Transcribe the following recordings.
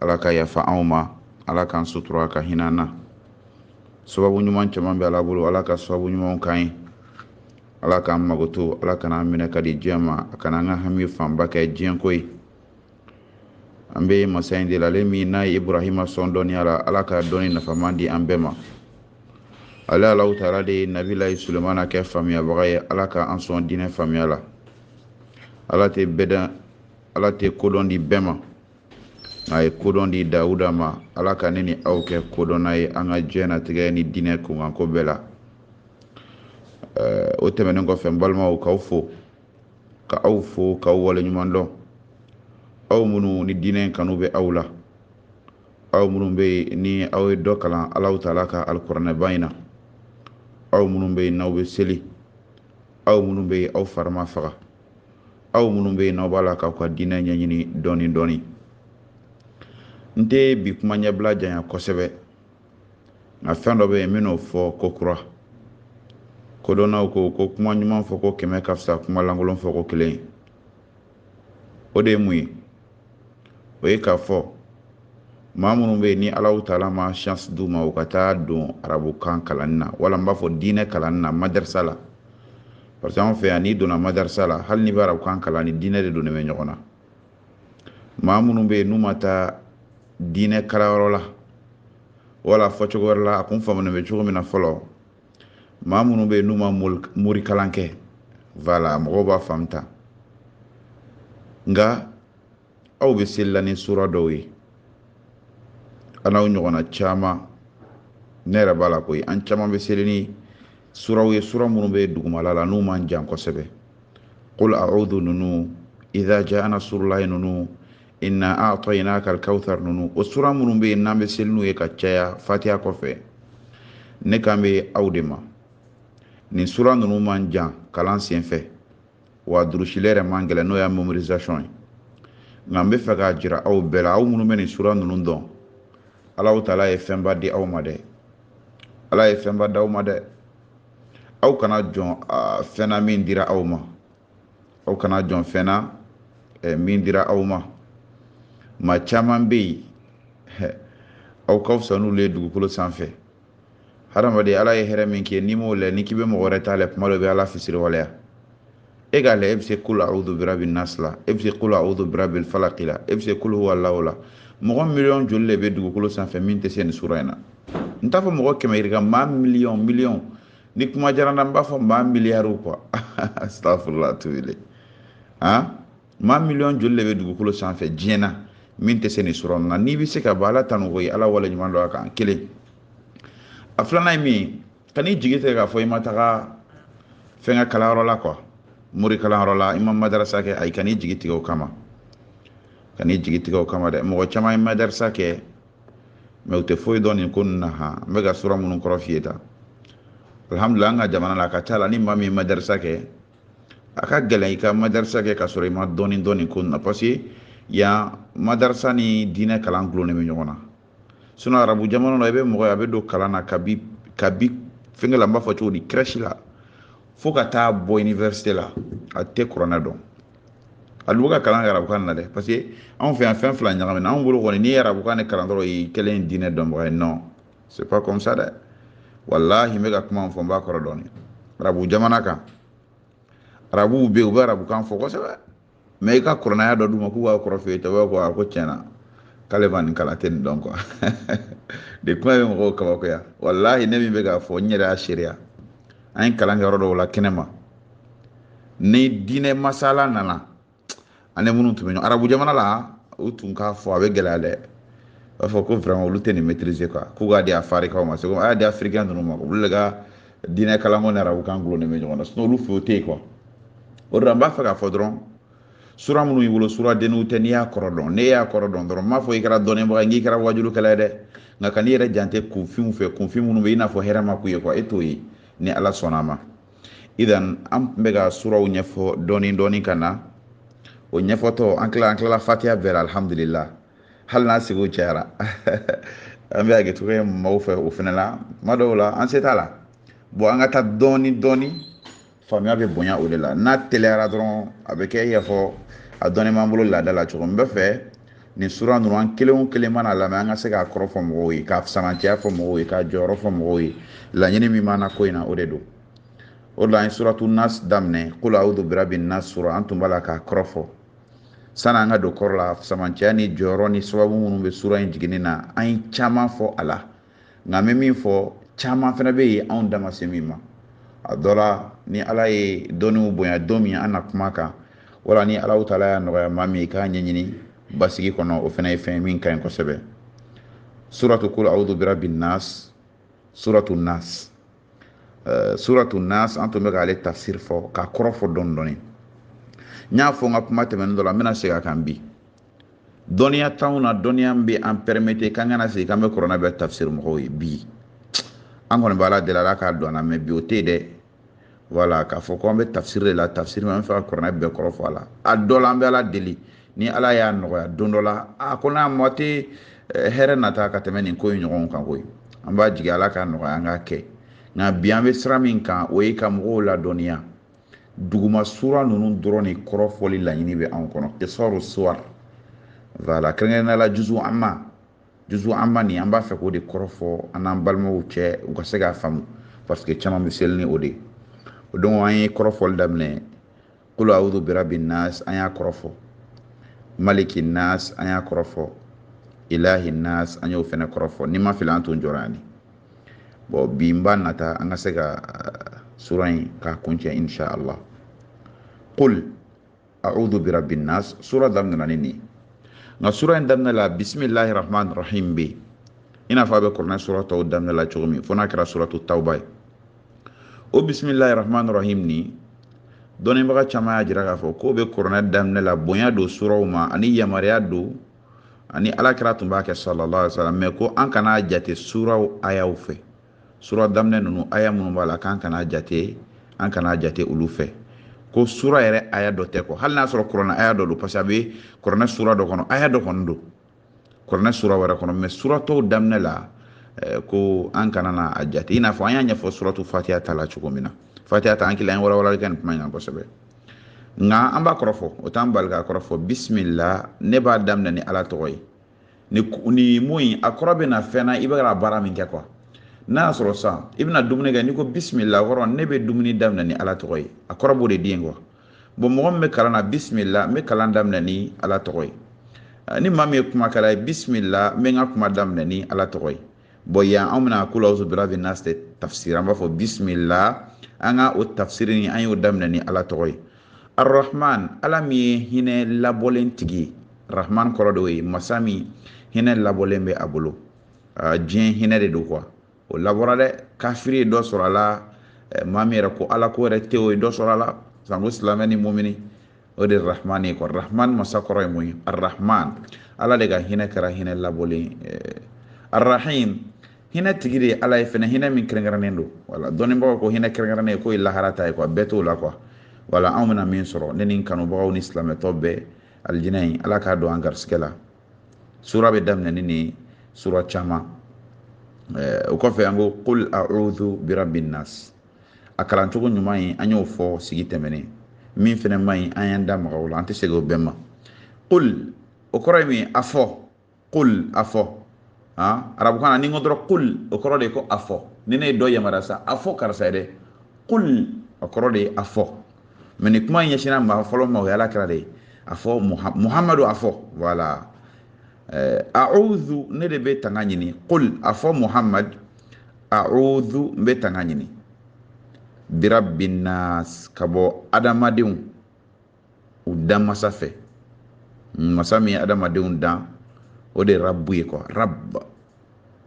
ala ka yafa anw ma ala k'an sutura ka hinɛ an na sababu ɲuman caman bɛ ala bolo ala ka sababu ɲuman k'an ye ala k'an mago to ala kan'an minɛ ka di diɲɛ ma a kana an ka hami fanba kɛ diɲɛ ko ye an bɛ masa in de la ale min n'a ye ibrahima sɔn dɔnniya la ala ka dɔnni nafama di an bɛɛ ma ale alahu taala de ye nabilahi sulemana kɛ faamuyabaga ye ala ka an sɔn diinɛ faamuya la ala tɛ bɛɛ ala tɛ kodɔn di bɛɛ ma a ye kodɔn di dawuda ma ala ka ne ni aw kɛ kodɔnna ye an ka diɲɛnatigɛ ni diinɛ kunkanko bɛɛ la o tɛmɛnen kɔfɛ n balimaw k'aw fo ka aw fo k'aw waleɲuman dɔn aw minnu ni diinɛ kanu bɛ aw la aw minnu bɛ yen ni aw ye dɔ kalan alahu taala ka alikuranɛba in na aw minnu bɛ yen n'aw bɛ seli aw minnu bɛ yen aw fari ma faga aw minnu bɛ yen n'aw b'a la k'aw ka diinɛ ɲɛɲini dɔɔni dɔɔni n tɛ bi kuma ɲɛbila janya kosɛbɛ nka fɛn dɔ bɛ yen n bɛn'o fɔ ko kura kodɔnnaw ko ko kuma ɲuman fɔ ko kɛmɛ ka fisa kuma lankolon fɔ ko kelen ye o de ye mun ye o ye k'a fɔ maa minnu bɛ yen ni alahu taala ma chance d'u ma u ka taa don arabukan kalanni na wala n b'a fɔ diinɛ kalanni na madarisa la parce que anw fɛ yan n'i donna madarisa la hali n'i bɛ arabukan kalan ni diinɛ de donnen bɛ ɲɔgɔn na maa minnu bɛ yen n'u ma taa diinɛ kalanyɔrɔ la wala fɔcogo wɛrɛ la a kun faamunen bɛ cogo min na fɔlɔ maa minnu bɛ yen n'u ma morikalan kɛ voilà mɔgɔw b'a faamu ta nka aw bɛ seli la ni sura dɔw ye an n'aw ɲɔgɔnna caman ne yɛrɛ b'a la koyi an caman bɛ seli ni suraw ye sura minnu bɛ dugumala la n'u man jan kosɛbɛ qul a'udhu ninnu idha ja'a nasurulahi ninnu inna a'taynakal kauthar nunu o sura minnu bɛ yen n'an bɛ seli n'u ye ka caya fatiha kɔfɛ ne kan bɛ aw de ma nin sura ninnu man jan kalan senfɛ wa durusili yɛrɛ man gɛlɛn n'o y'a mémorisation ye nka n bɛ fɛ k'a jira aw bɛɛ la aw minnu bɛ nin sura ninnu dɔn alahu taala ye fɛnba di aw ma dɛ ala ye fɛnba d'aw ma dɛ aw kana jɔn fɛn na min dira aw ma aw kana jɔn fɛn na eh, min dira aw ma maa caman bɛ yen eh, aw ka fisa n'olu ye dugukolo sanfɛ hadamaden ala ye hɛrɛ min kɛ n'i m'o lɛ n'i k'i bɛ mɔgɔ wɛrɛ ta lɛ kuma dɔ bɛ ala fisiriwaleya e k'a lɛ e bɛ se qul a'udhu birabi nasi la e bɛ se qul a'udhu birabi falaki la e bɛ se qul huwallahu la mɔgɔ miliyɔn joli de bɛ dugukolo sanfɛ min tɛ se nin sura in na n t'a fɔ mɔgɔ kɛmɛ yirika maa miliyɔn miliyɔn ni kuma diyara n na n b'a fɔ maa miliyariw quoi astafurula tubile han maa miliyɔn joli de bɛ dugukolo sanfɛ diɲɛ na min tɛ se nin sura in na n'i bɛ se ka bɔ ala tanu ko ye ala waleɲuman dɔn a kan kelen a filanan ye min ye kan'i jigi tigɛ k'a fɔ i ma taga fɛn ka kalanyɔrɔ la quoi mori kalanyɔrɔ la i ma madarasa kɛ ayi kan'i jigi tigɛ o kama kan'i jigi tigɛ o kama dɛ mɔgɔ caman ye madarasa kɛ mais u tɛ foyi dɔn nin ko ninnu na han n bɛ ka sura minnu kɔrɔ f'i ye tan alhamdulila an ka jamana la a ka ca la ni maa min ye madarisa kɛ a ka gɛlɛn i ka madarisa kɛ ka sɔrɔ i ma dɔɔni dɔn nin ko ninnu na parce que yan madarisa ni diinɛ kalan gulonnen bɛ ɲɔgɔn na sinon arabu jamana la i bɛ mɔgɔ ye a bɛ don kalan na kabi kabi fɛnkɛ la n b'a fɔ cogo di crèche la fo ka taa bɔ iniwɛrisite la a tɛ kuranɛ dɔn a dun ka kalan kɛ arabukan na dɛ parce que anw fɛ yan fɛn fila ɲagamina anw bolo kɔni n'i ye arabukan de kalan dɔrɔn i kɛlen diinɛ dɔnbaga ye non c'est pas comme ça dɛ walahi n bɛ ka kuma min fɔ n b'a kɔrɔ dɔn arabu jamana kan arabuw bɛ yen u bɛ arabukan fɔ kosɛbɛ mais i ka kuranɛ aya dɔ d'u ma k'u k'a kɔrɔ f'i ye tɔ bɛ ko a ko tiɲɛ na k'ale ma nin kalan tɛ nin dɔn quoi de kuma bɛ mɔgɔw kabakoya walahi ne min bɛ k'a fɔ n yɛrɛ y'a seereya an ye kalan kɛ yɔrɔ dɔw la kɛnɛma ni diinɛ masala nana an ni minnu tun bɛ ɲɔgɔn arabu jamana la u tun k'a fɔ a bɛ gɛlɛya dɛ u b'a fɔ ko vraiment olu tɛ nin maîtriser quoi k'u k'a di afarikaw ma seko a y'a di africain ninnu ma olu de ka diinɛ kalanko ni arabukan gulonnen bɛ ɲɔgɔn na sinon olu fɛ o tɛ yen quoi o de la n b'a fɛ k'a fɔ dɔrɔn sura minnu y'i bolo sura denninw tɛ n'i y'a kɔrɔ dɔn n'e y'a kɔrɔ dɔn dɔrɔn n m'a fɔ i kɛra dɔnnibaga ye n'i kɛra wajulikɛla ye dɛ nka kan'i yɛrɛ jate kunfinw fɛ kunfin minnu bɛ i n'a fɔ hɛrɛ ma k'u ye quoi e t'o ye ni ala sɔnna a ma idan an tun bɛ ka suraw ɲɛfɔ dɔɔni dɔɔni ka na o ɲɛfɔtɔ an kila an kilala fatiya bɛɛ la alhamdulila hali n'a sigiw cayara an bɛ hakɛto kɛ maaw fɛ o fana la tuma dɔw la an se t'a la bon an ka taa dɔɔni dɔɔni faamuya bɛ bonya o de la n'a teliyara dɔrɔn a bɛ kɛ i y'a fɔ a dɔɔni b'an bolo laada la cogo min n b'a fɛ nin sura ninnu an kelen o kelen mana lamɛn an ka se k'a kɔrɔ fɔ mɔgɔw ye k'a fisamancɛya fɔ mɔgɔw ye k'a jɔyɔrɔ fɔ mɔgɔw ye laɲini min b'an na ko in na o de don o de la an ye suratu nas daminɛ kul audu birabi nas sura an tun b'a la k'a kɔrɔ fɔ sani an ka don kɔrɔ la fisamancɛya ni jɔyɔrɔ ni sababu minnu bɛ sura in jiginni na an ye caman fɔ a la nka n bɛ min fɔ caman fana bɛ yen anw da ma se min ma a dɔ la ni ala ye dɔnniw bonya don min an na kuma kan wala ni ala taala y'a nɔgɔya maa min ye k'a ɲɛɲini basigi kɔnɔ o fana ye fɛn min ka ɲi kosɛbɛ suratu kul audu birabi nas suratu nas eh, suratu nas an tun bɛ k'ale tafsir fɔ k'a kɔrɔ fɔ dɔɔni dɔɔni n y'a fɔ n ka kuma tɛmɛnen dɔ la n bɛna segin a kan bi dɔnniya t'anw na dɔnniya min bɛ an permettre k'an ka na sigi k'an bɛ kuranɛ bɛɛ tafsiri mɔgɔw ye bi an kɔni bɛ ala deli ala k'a don an na mais bi o tɛ yen dɛ voilà k'a fɔ ko an bɛ tafsiri de la tafsiri min an bɛ fɛ ka kuranɛ bɛɛ kɔrɔ fɔ a la a dɔ la an bɛ ala deli ni ala y'a nɔgɔya don dɔ la a ko n'a mɔ tɛ eh, hɛrɛ nata ka tɛmɛ nin ko in ɲɔgɔn kan koyi an b'a jigi ala k'a nɔgɔya an k'a kɛ nka bi an bɛ sira min kan o ye ka mɔgɔw ladɔnniya duguma sura ninnu dɔrɔn de kɔrɔfɔli laɲini bɛ anw kɔnɔ kisɔru suwar voilà kɛrɛnkɛrɛnnenya la juzu amma juzu amma nin an b'a fɛ k'o de kɔrɔfɔ an n'an balimaw cɛ u ka se k'a faamu parce que caman bɛ seli ni o de ye donc an ye kɔrɔfɔli daminɛ qul a'udhu birabi nas an y'a kɔrɔfɔ maliki nas an y'a kɔrɔfɔ ilahi nas an y'o fɛnɛ kɔrɔfɔ ni n ma fili an tun jɔra yan de bon bi n b'a nata an ka se ka sura in k'a kuncɛ insha allah qul a'udhu birabi nas sura daminɛna ni nin nka sura in daminɛ la bisimilahi rahman rahim bɛ yen i n'a fɔ a bɛ kuranɛ sura tɔw daminɛ la cogo min fo n'a kɛra suratu tawba ye o bisimilahi rahman rahim nin dɔnnibaga caman y'a jira k'a fɔ k'o bɛ kuranɛ daminɛ la bonya don suraw ma ani yamaruya don ani alakira tun b'a kɛ sallallahu alaihi wasallam mais ko an kana jate suraw ayaw fɛ sura daminɛ ninnu aya minnu b'a la k'an kana jate an kana jate olu fɛ ko sura yɛrɛ aya dɔ tɛ quoi hali n'a sɔrɔ kuranɛ aya dɔ don parce que a bɛ kuranɛ sura dɔ kɔnɔ aya dɔ kɔni don kuranɛ sura wɛrɛ kɔnɔ mais sura tɔw daminɛ la eh, ko an kana na a jate i n'a fɔ an y'a ɲɛfɔ suratu fatiha ta la cogo min na fatiha ta an kila an ye walawalali kɛ nin kuma in kan kosɛbɛ nka an b'a kɔrɔfɔ o t'an bali k'a kɔrɔfɔ bisimila ne b'a daminɛ ni ala tɔgɔ ye ni ni mun in a kɔrɔ bɛ na fɛn na i bɛ ka baara min kɛ quoi n'a y'a sɔrɔ sisan i bɛna dumuni kɛ n'i ko bisimila kɔrɔ ne bɛ dumuni daminɛ ni ala tɔgɔ ye a kɔrɔ b'o de di yen quoi bon mɔgɔ min bɛ kalan na bisimila n bɛ kalan daminɛ ni ala tɔgɔ ye ni maa min ye kumakɛla ye bisimila n bɛ n ka kuma daminɛ ni ala tɔgɔ ye bon yan an bɛna qul a'udhu birabi nas de tafsir an b'a fɔ bisimila an ka o tafsir in an y'o daminɛ ni ala tɔgɔ ye arahman ala min ye hinɛ labɔlen tigi ye rahman kɔrɔ de ye masa min hinɛ labɔlen bɛ a bolo diɲɛ hinɛ de don quoi o labɔra dɛ kafiri ye dɔ sɔrɔ a la maa min yɛrɛ ko ala ko yɛrɛ tɛ o ye dɔ sɔrɔ a la sanko silamɛ ni mumini o de rahman ye quoi rahman masa kɔrɔ ye mun ye arahman ala de ka hinɛ kɛra hinɛ labɔlen eh, arahim hinɛ tigi de ala ye fɛnɛ hinɛ min kɛrɛnkɛrɛnnen don voilà dɔnnibagaw ko hinɛ kɛrɛnkɛrɛnnen ye k'o ye lahara ta ye quoi bɛɛ t'o la quoi voilà anw bɛna min sɔrɔ ne ni kanubagaw ni silamɛ tɔ bɛɛ alijinɛ in ala k'a don an garisigɛ la sura bɛ daminɛ ni nin sura caman eh, o kɔfɛ an ko qul a'udhu birabbi nas a kalancogo ɲuman ye an y'o fɔ sigi tɛmɛnen min fɛnɛ man ɲi an y'an da maga o la an tɛ segin o bɛɛ ma kul o kɔrɔ ye mun ye a fɔ kul a fɔ arabukan na ni n ko dɔrɔn kul o kɔrɔ de ye ko a fɔ ni ne ye dɔ yamaruya sa a fɔ karisa ye dɛ kul o kɔrɔ de ye a fɔ mais nin kuma ɲɛsinna maa fɔlɔ ma o ye ala kira de ye a fɔ muhamadu a fɔ voilà eh, a'udhu ne de bɛ tanga ɲini kul a fɔ muhamadu a'udhu n bɛ tanga ɲini birabinas ka bɔ adamadenw u dan masa fɛ masa min ye adamadenw dan o de ye rabu ye quoi rab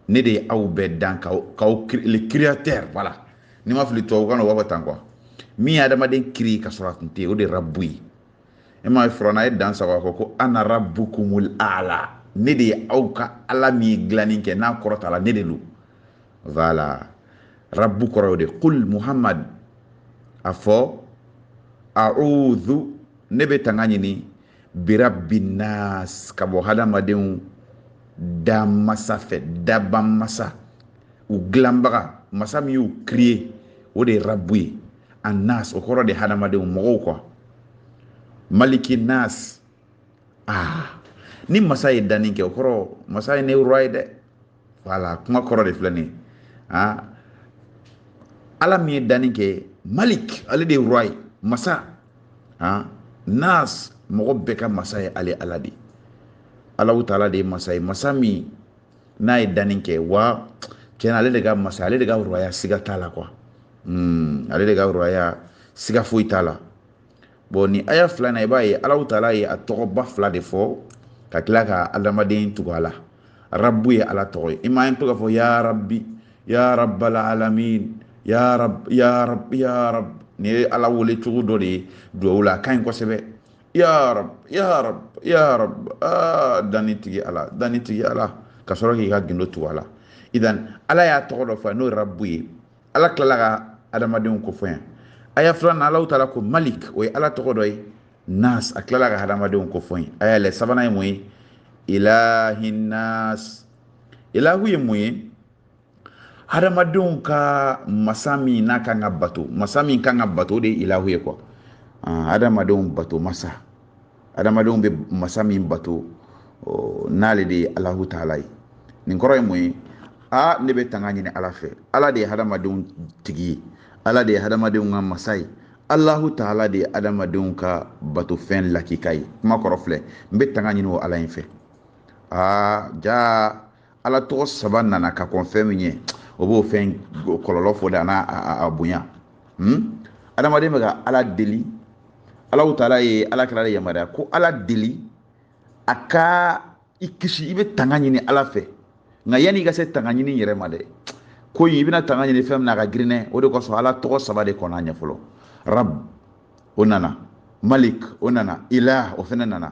ne de ye aw bɛɛ dan k'aw k'aw le créateur voilà ni n ma fili tubabukan na u b'a fɔ tan quoi min ye adamaden créer ka sɔrɔ a tun tɛ yen o de ye rabu ye e m'a ye firawuna ye dan sagon k'a fɔ ko ana rabbukumul a'la ne de ye aw ka ala min ye dilanni kɛ n'a kɔrɔtala ne de don voilà rabbu kɔrɔ y'o de kul muhammad a fɔ a'udhu ne bɛ tanga ɲini birabbinas ka bɔ hadamadenw da masa fɛ dabaa masa u dilanbaga masa min y'u créer o de ye rabu ye annas o kɔrɔ de hadamadenw mɔgɔw quoi maliki nas ah ni masa ye danni kɛ o kɔrɔ masa ye le roi ye dɛ voilà kuma kɔrɔ de filɛ nin ah ala min ye danni kɛ malik ale de ye roi masa ah nas mɔgɔ bɛɛ ka masa ye ale ala de ye alahu taala de ye masa ye masa min n'a ye danni kɛ wa tiɲɛ na ale de ka masa ale de ka rɔya siga t'a la quoi hmm, ale de ka rɔya siga foyi t'a la bon nin aya fila na i b'a ye alahu taala ye a tɔgɔba fila de fɔ ka tila ka adamaden tugu a la rabu ye ala tɔgɔ ye i m'a ye to k'a fɔ ya rabi ya rabal alamin ya rab ya rab ya rab nin ye ala wele cogo dɔ de ye duwawu la a ka ɲi kosɛbɛ ya rab ya rab ya rab aa danni tigi ala danni tigi ala ka sɔrɔ k'i ka gundo tugu a la idan ala y'a tɔgɔ dɔ fɔ n'o ye rabu ye ala tilala ka adamadenw ko fɔ yan aya filanan alahu taala ko malik o ye ala tɔgɔ dɔ ye nas a tilala ka hadamadenw ko fɔ yen a y'a lɛ sabanan ye mun ye ilahi nas ilahu ye mun ye hadamadenw ka masa min n'a kan ka bato masa min kan ka bato o de ye ilahu ye quoi hadamadenw bato masa hadamadenw bɛ masa min bato n'ale de ye alahu taala ye nin kɔrɔ ye mun ye a ne bɛ tanga ɲini ala fɛ ala de ye hadamadenw tigi ye ala de ye hadamadenw ka masa ye alahu taala de ye hadamadenw ka bato fɛn lakika ye kuma kɔrɔ filɛ n bɛ tanga ɲini o ala in fɛ aa jaa ala tɔgɔ saba nana ka kɔn fɛn min ɲɛ o b'o fɛn kɔlɔlɔ fɔ de a n'a a bonya hmm? adamaden bɛ ka ala deli alahu taala ye ala kira de yamaruya ko ala deli a ka i kisi i bɛ tanga ɲini ala fɛ nka yanni i ka se tanga ɲini yɛrɛ ma dɛ ko in i bɛna tanga ɲini fɛn min na a ka girin dɛ o de kosɔn ala tɔgɔ saba de kɔnna a ɲɛ fɔlɔ rab o nana malik o nana ilah o fana nana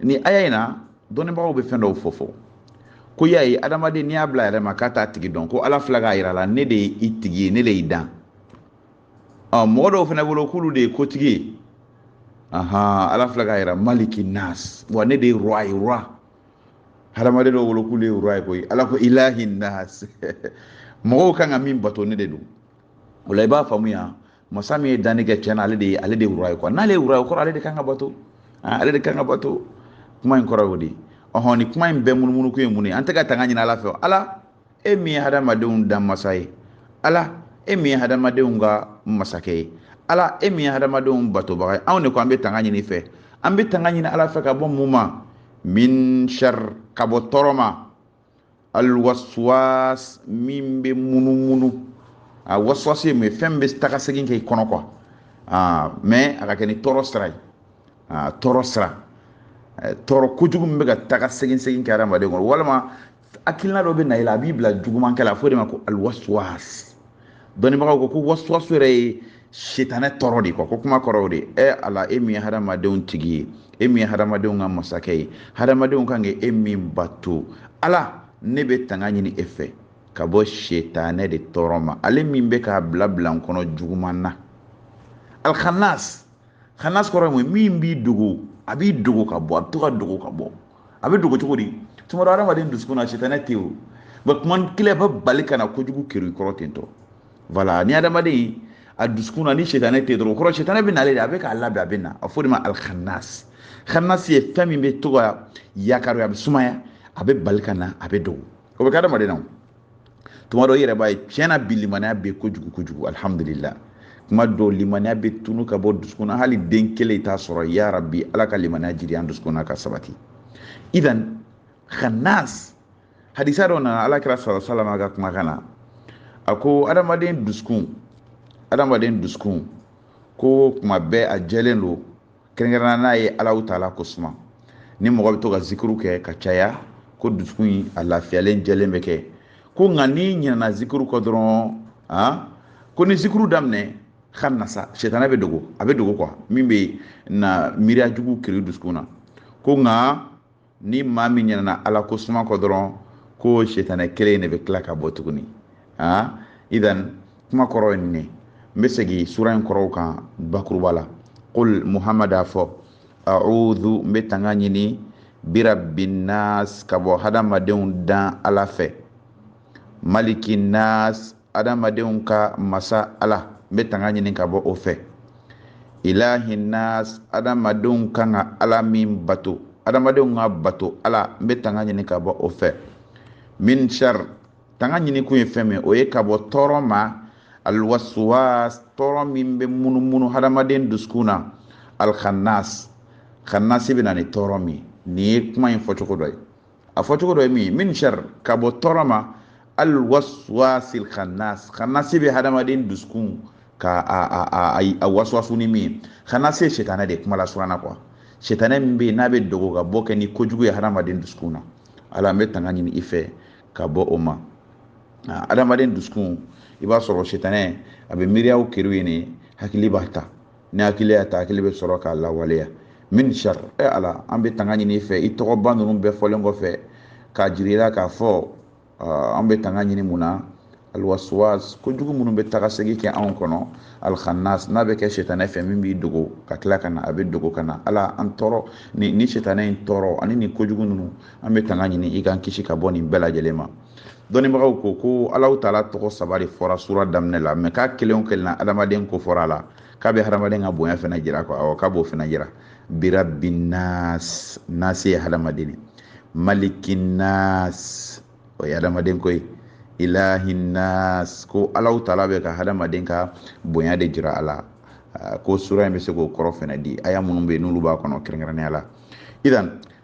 ni aya in na dɔnnibagaw bɛ fɛn dɔw fɔ fɔ ko y'a ye adamaden n'i y'a bila yɛrɛ ma k'a t'a tigi dɔn ko ala filɛ k'a yira i la ne de ye i tigi ye ne de y'i dan ɔ mɔgɔ dɔw fana bolo k'olu de ye kotigi ye ahan ala filɛ k'a yira maliki nas wa ne de ye roi ye roi hadamaden dɔw bolo k'olu ye roi ye koyi ala ko ilahi nas mɔgɔw kan ka min bato ne de don o la i b'a faamuya masa min ye danni kɛ tiɲɛna ale de ye ale de roi ye quoi n'ale ye roi ye kɔrɔ ale de kan ka bato ah, ale de kan ka bato kuma in kɔrɔ y'o de ye ɔhɔn ni kuma in bɛɛ munumunu ko ye mun ye an bɛ ka tanga ɲini ala fɛ ala e min ye hadamadenw dan masa ye ala e min ye hadamadenw ka masakɛ ye ala e min ye hadamadenw batobaga ye anw de ko an bɛ tanga ɲini fɛ an bɛ tanga ɲini ala fɛ ka bɔ mun ma min shar ka bɔ tɔɔrɔ ma alwaswas min bɛ munumunu a waswas ye mun ye fɛn min bɛ taga segin kɛ i kɔnɔ quoi aa mais a ka kɛ ni tɔɔrɔ sira ye aa tɔɔrɔ sira tɔɔrɔ kojugu min bɛ ka taga segin segin kɛ adamaden kɔnɔ walima hakilina dɔ bɛ na i la a b'i bila jugumankɛ la a fɔ o de ma ko alwaswas dɔnnibagaw ko ko wasuwasu yɛrɛ ye sitanɛ tɔɔrɔ de quoi ko kuma kɔrɔ o de ye ala e min ye hadamadenw tigi ye e min ye hadamadenw ka masakɛ ye hadamadenw kan ka e min bato ala ne bɛ tanga ɲini e fɛ ka bɔ sitanɛ de tɔɔrɔ ma ale min bɛ k'a bila bila n kɔnɔ juguman na alkhanas khanas kɔrɔ ye mun min b'i dogo a b'i dogo ka bɔ a bɛ to ka dogo ka bɔ a bɛ dogo cogo di tuma dɔ hadamaden dusukun na sitanɛ tɛ o nka kuma kelen bɛ bali ka na kojugu kerun i kɔrɔ ten tɔ voilà ni hadamaden a dusukun na ni sitanɛ tɛ dɔrɔn o kɔrɔ sitanɛ bɛ nale de a bɛ k'a labɛn a bɛ na a fɔ de ma alkhanas khanas ye fɛn min bɛ to ka yakari a bɛ sumaya a bɛ bali ka na a bɛ dogo o bɛ kɛ hadamaden na tuma dɔ i yɛrɛ b'a ye tiɲɛna bi limaniya bɛ kojugu kojugu alhamdulillah kuma dɔw limaniya bɛ tunu ka bɔ dusukun na hali den kelen i t'a sɔrɔ ya rabi ala ka limaniya jiri an dusukun na ka sabati idan khanas hadisa dɔ nana ala kira sallallahu alaihi wasallam ka kumakan na a ko adamaden dusukun adamaden dusukun ko kuma bɛɛ a jɛlen don kɛrɛnkɛrɛnna n'a ye alahu taala ko suma ni mɔgɔ bɛ to ka zikuru kɛ ka caya ko dusukun in a lafiyalen jɛlen bɛ kɛ ko nka n'i ɲinana zikuru kɔ dɔrɔn a ko ni zikuru daminɛ khanasa sitanɛ bɛ dogo a bɛ dogo quoi min bɛ na miiriya jugu kerun dusukun na ko nka ni maa min ɲinɛna ala ko suma kɔ dɔrɔn ko sitanɛ kelen in de bɛ tila ka bɔ tuguni aa idan kuma kɔrɔ ye nin ye n bɛ segin sura in kɔrɔw kan bakuruba la qul muhamad a fɔ a'udhu n bɛ tanga ɲini birabbin nas ka bɔ hadamadenw dan ala fɛ maliki nas adamadenw ka masa ala n bɛ tanga ɲini ka bɔ o fɛ ilahi nas adamadenw kan ka ala min bato adamadenw ka bato ala n bɛ tanga ɲini ka bɔ o fɛ min shar tanga ɲini kun ye fɛn min o ye ka bɔ tɔɔrɔ ma alwaswas tɔɔrɔ min bɛ munumunu hadamaden dusukun na alkhannas khannasi bɛ na ni tɔɔrɔ min nin ye kuma in fɔcogo dɔ ye a fɔcogo dɔ ye min ye min shar ka bɔ tɔɔrɔ ma alwaswasil khannas khannas bɛ hadamaden dusukun ka a a a a waswasu ni min ye khannas ye sitanɛ de kuma la sura in na quoi sitanɛ min bɛ yen n'a bɛ dogo ka bɔ kɛ ni kojugu ye hadamaden dusukun na ala an bɛ tanga ɲini i fɛ ka bɔ o ma hadamaden dusukun i b'a sɔrɔ sitanɛ a bɛ miiriyaw keri yen hakili b'a ta ni hakili y'a ta hakili bɛ sɔrɔ k'a lawaleya min shar e ala an bɛ tanga ɲini i fɛ i tɔgɔba ninnu bɛɛ fɔlen kɔfɛ k'a jira i la k'a fɔ an bɛ tanga ɲini mun na alwaswas kojugu minnu bɛ taga segin kɛ anw kɔnɔ alkhannas n'a bɛ kɛ sitanɛ fɛ min b'i dogo ka tila ka na a bɛ dogo ka na ala an tɔɔrɔ ni ni sitanɛ in tɔɔrɔ ani nin kojugu ninnu an bɛ tanga ɲini i k'an kisi ka bɔ nin bɛɛ lajɛlen ma dɔnnibagaw ko ko alahu taala tɔgɔ saba de fɔra sura daminɛ la mais k'a kelen o kelen na adamaden ko fɔra a la k'a bɛ hadamaden ka bonya fana jira ko awɔ k'a b'o fana jira birabbin nas nasi ye hadamaden ye maliki nas o ye hadamaden ko ye ilahi nas ko alahu taala bɛ ka hadamaden ka bonya de jira a la ko sura in bɛ se k'o kɔrɔ fana di aya minnu bɛ yen n'olu b'a kɔnɔ kɛrɛnkɛrɛnnenya la idan